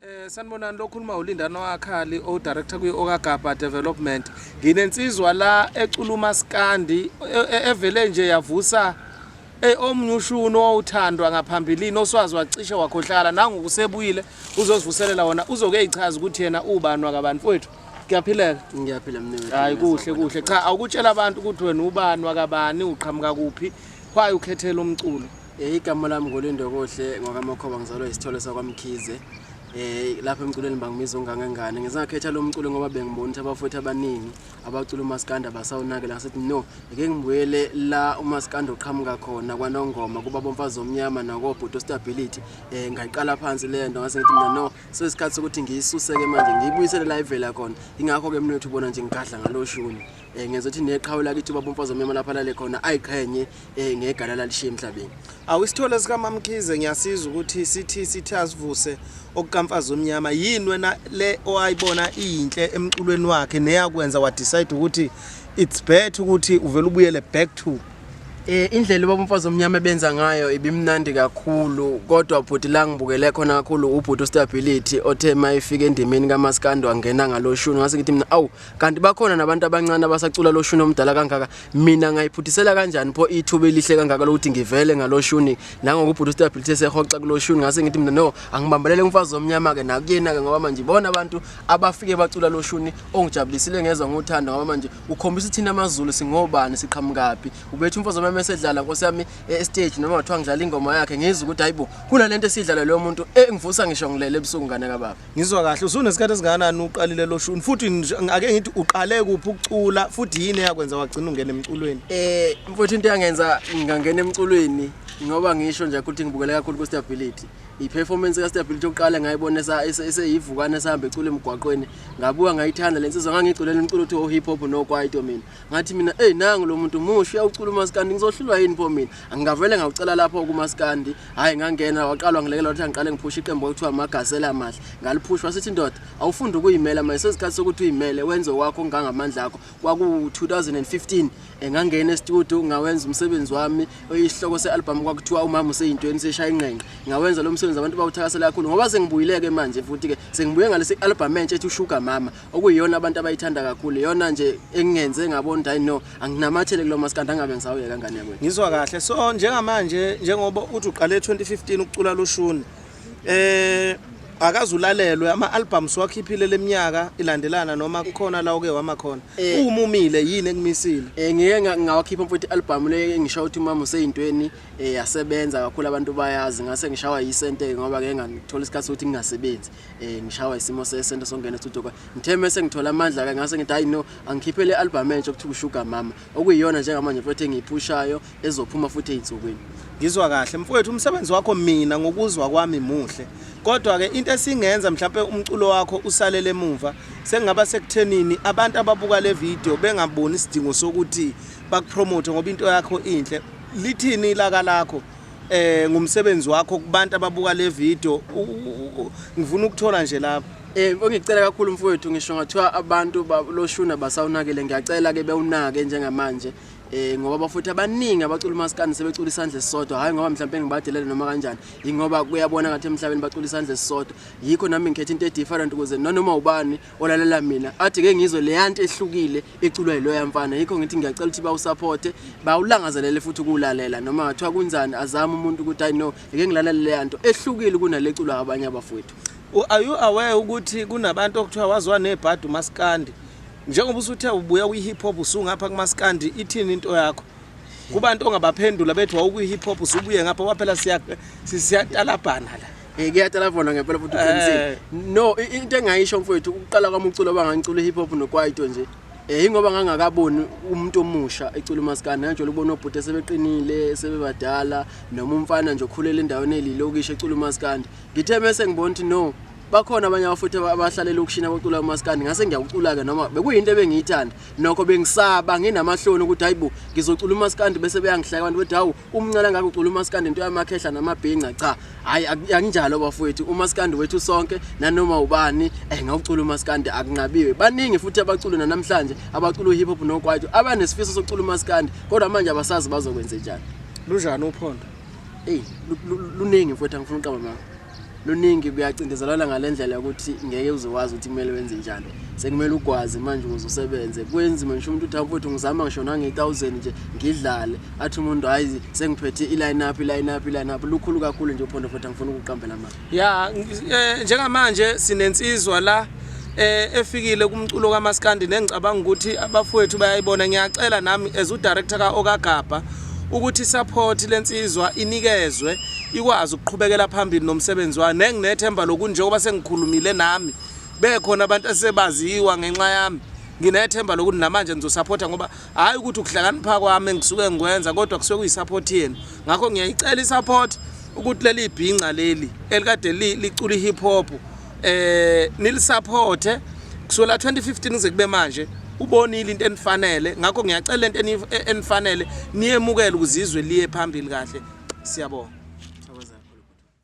Eh sanibonani lokhuluma uLindano Akhali o director kwi Okagaba Development. Nginensizwa la eculuma Skandi e- e- evele nje yavusa eh omnyushuni owuthandwa ngaphambilini oswazi wacishe wakhohlala nangu kusebuyile uzozivuselela wona uzoke eyichaza ukuthi yena ubani wakabani mfowethu. Kuyaphileka. Ngiyaphila mnewethu. Hayi kuhle kuhle cha awukutshela abantu ukuthi wena ubani wakabani uqhamuka kuphi why ukhethela umculo. Eh, igama lami ngulindo kuhle ngwakamakhoba ngizalwa isithole sakwamkhize um lapha emculweni bangibiza ungangengane ngisangakhetha lo mculo ngoba bengibona ukuthi abafowethu abaningi abacula umasikanda basawunakela ngasithi no eke ngibuyele la umasikanda oqhamuka khona kwanongoma kuba bomfazi omnyama nakobhuti ostability um ngayiqala phansi le nto ngase ngithi mina no sesikhathi sokuthi ngiyisuse-ke manje ngiyibuyisele la ivela khona yingakho-ke mina ukuthi ubona nje ngigadla ngaloshuni um ngenza ukuthi neqhawe lakithi ubaba umfazi omnyama lapho alale khona ayiqhenye um ngegala lalishiye emhlabeni awu isithole sikamamkhize ngiyasiza ukuthi sithi sithi asivuse okukamfazi omnyama yini wena le owayibona iyinhle emculweni wakhe neyakwenza wadecide ukuthi it's better ukuthi uvele ubuyele back to Eh indlela ubaba umfazi omnyama benza ngayo ibimnandi kakhulu kodwa bhuti la ngibukele khona kakhulu ubhuti stability othe mayifika endimeni kaMaskando angena ngaloshuni ngase ngithi mina awu kanti bakhona nabantu abancane abasacula lo shuni omdala kangaka mina ngayiphuthisela kanjani pho ithuba elihle kangaka lokuthi ngivele ngalo shuni nangokubhuda ustability esehoxa kulo shuni ngase ngithi mina no angibambelele umfazi omnyama-ke nakuyena-ke ngoba manje ibona abantu abafike bacula lo shuni ongijabulisile ngezwa ngothando ngoba manje ukhombisa ithina amazulu singobani siqhamukaphi ubethi umfazi omnyama esedlala nkosi yami estage e, noma kuthiwa ngidlala ingoma yakhe ngizwa ukuthi hayi bo kunale nto esidlala loyo muntu engivusa ngisho ngilele ebusuku ngane kababa Ngizwa kahle usunesikhathi esingakanani uqalile lo shuni futhi ake ngithi uqale kuphi ukucula futhi yini eyakwenza wagcina ungena emculweni eh mfowethu into yangenza ngingangena emculweni ngoba ngisho nje ukuthi ngibukele kakhulu ku stability i-performance ka-stability yokuqala ngayibona eseyivukana esihamba ecula emgwaqweni ngabuka ngayithanda le nsizwa ngangiyiculela umculo othiwa o-hip hop nokwaito mina ngathi mina eyi nangu lo muntu muhle uyawucula umaskandi ngizohlulwa yini pho mina angingavele ngawucela lapho kumaskandi hhayi ngangena waqalwa ngilekela ukuthi angiqale ngiphushe iqembu okuthiwa amagasela amahle ngaliphushwa sithi ndoda awufunde ukuyimela manje sesikhathi sokuthi uyimele wenze wakho ngangamandla akho kwaku-2015 engangena estudio ngawenza umsebenzi wami isihloko se-albhamu kwakuthiwa umama useyintweni seshaya inqenqe ngawenza lo msebenzi abantu bawuthakasela kakhulu ngoba sengibuyileke manje futhi-ke sengibuye ngalesi albhamu entsha ethi ushuga mama okuyiyona abantu abayithanda kakhulu iyona nje engingenze ngabona ukuthi hayi no anginamathele kulo maskandi angabe ngisawuye kangane yakwethu ngizwa kahle so njengamanje njengoba uthi uqale 2015 ukucula loshuni eh akazulalelwe ama-albums wakhiphile leminyaka ilandelana noma kukhona la uke wama khona eh. uwumumile yini ekumisile um eh, ngike ngawakhipha mfuthi i-albhamu le ngisho ukuthi umama useyintweni um yasebenza kakhulu abantu bayazi ngase ngishawa yisente-ke ngoba ngeke nganithola isikhathi sokuthi ngingasebenzi eh ngishawa isimo sesento songena studio kwa ngithe mase ngithola amandla ke ngase ngithi hayi no angikhiphe le album entsha okuthiwa sugar mama okuyiyona njengamanje futhi engiyiphushayo ezophuma futhi ezinsukwini ngizwa kahle mfowethu umsebenzi wakho mina ngokuzwa kwami muhle kodwa ke into esingenza mhlawumbe umculo wakho usalele emuva sengaba sekuthenini abantu ababuka le video bengaboni isidingo sokuthi bakupromote ngoba into yakho inhle lithini ilaka lakho eh ngumsebenzi wakho kubantu ababuka le video ngifuna ukuthola nje lapha Eh ongicela kakhulu mfowethu ngisho ngathiwa abantu loshuna basawunakele ngiyacela ke bewunake njengamanje eh ngoba bafuthi abaningi abacula umaskandi sebecula isandla esisodwa hayi ngoba mhlawumbe ngibadelele noma kanjani ingoba kuyabona ngathi emhlabeni bacula isandla esisodwa yikho nami ngikhetha into edifferent ukuze noma ubani olalela mina athi ke ngizwe leyanti ehlukile iculwa yiloya mfana yikho ngithi ngiyacela ukuthi bawusapothe bawulangazelele futhi ukuwulalela noma ngathiwa kunjani azame umuntu ukuthi i know ngeke ngilalele leya nto ehlukile kunale culwa abanye abafowethu are you aware ukuthi kunabantu okuthiwa waziwa nebhadi umaskandi njengoba usuthe ubuya kwi-hip hop usungapha kumaskandi ithini into yakho kubantu ongabaphendula bethi wawukwi-hip hop usubuye ngapha kwaphela siyatalabhana la Eh kuyatala vona ngempela futhi uqinisile. Eh. No into engayisho mfowethu ukuqala kwami uculo bangangicula hip hop nokwaito nje. Eh ingoba ngangakaboni umuntu omusha ecula umaskandi ngajole ukubona obhuti sebeqinile sebebadala noma umfana nje okhulele endaweni elilokishi ecula umaskandi. Ngithe mase ngibona ukuthi no bakhona abanye abafuthi abahlalela ukushina bacula umaskandi ngase ngiyawucula-ke noma bekuyinto ebengiyithanda nokho bengisaba nginamahloni ukuthi hayi bo ngizocula umaskandi bese beyangihleka abantu bethi hawu umncela ngako ucula umaskandi into yamakhehla namabhinca cha hayi akunjalo bafowethu umaskandi wethu sonke nanoma ubani eh ngawucula umaskandi akunqabiwe baningi futhi abacula namhlanje abacula uhip hop nokwaito abanesifiso sokucula umaskandi kodwa manje abasazi bazokwenze njani lunjani uphondo eyi luningi mfowethu angifuna uqaba mama luningi kuyacindezelana ngale ndlela yokuthi ngeke uze wazi ukuthi kumele wenze njani sekumele ugwaze manje ukuze usebenze kwenzima ngisho umuntu uthi mfowethu ngizama ngisho nange-thousand nje ngidlale athi umuntu hhayi sengiphethe i-line up i-line up i-line up lukhulu kakhulu nje uphondo futhi angifuna ukuqambela manje ya um njengamanje sinensizwa la eh efikile kumculo kamaskandi nengicabanga ukuthi abafowethu bayayibona ngiyacela nami as udirector ka okagabha ukuthi support lensizwa inikezwe ikwazi ukuqhubekela phambili nomsebenzi wayo nenginethemba lokunjengoba sengikhulumile nami bekhona abantu asebaziwa ngenxa yami nginethemba lokuthi namanje ngizosupport ngoba hayi ukuthi ukuhlakanipha kwami ngisuke ngikwenza kodwa kusuke kuyisupport yenu ngakho ngiyayicela isupport ukuthi leli bhinca leli elikade licula ihip hop eh nilisaphothe kusukela 2015 kuze kube manje ubonile into enifanele ngakho ngiyacela into e-, enifanele niyemukele ukuzizwe liye phambili kahle siyabonga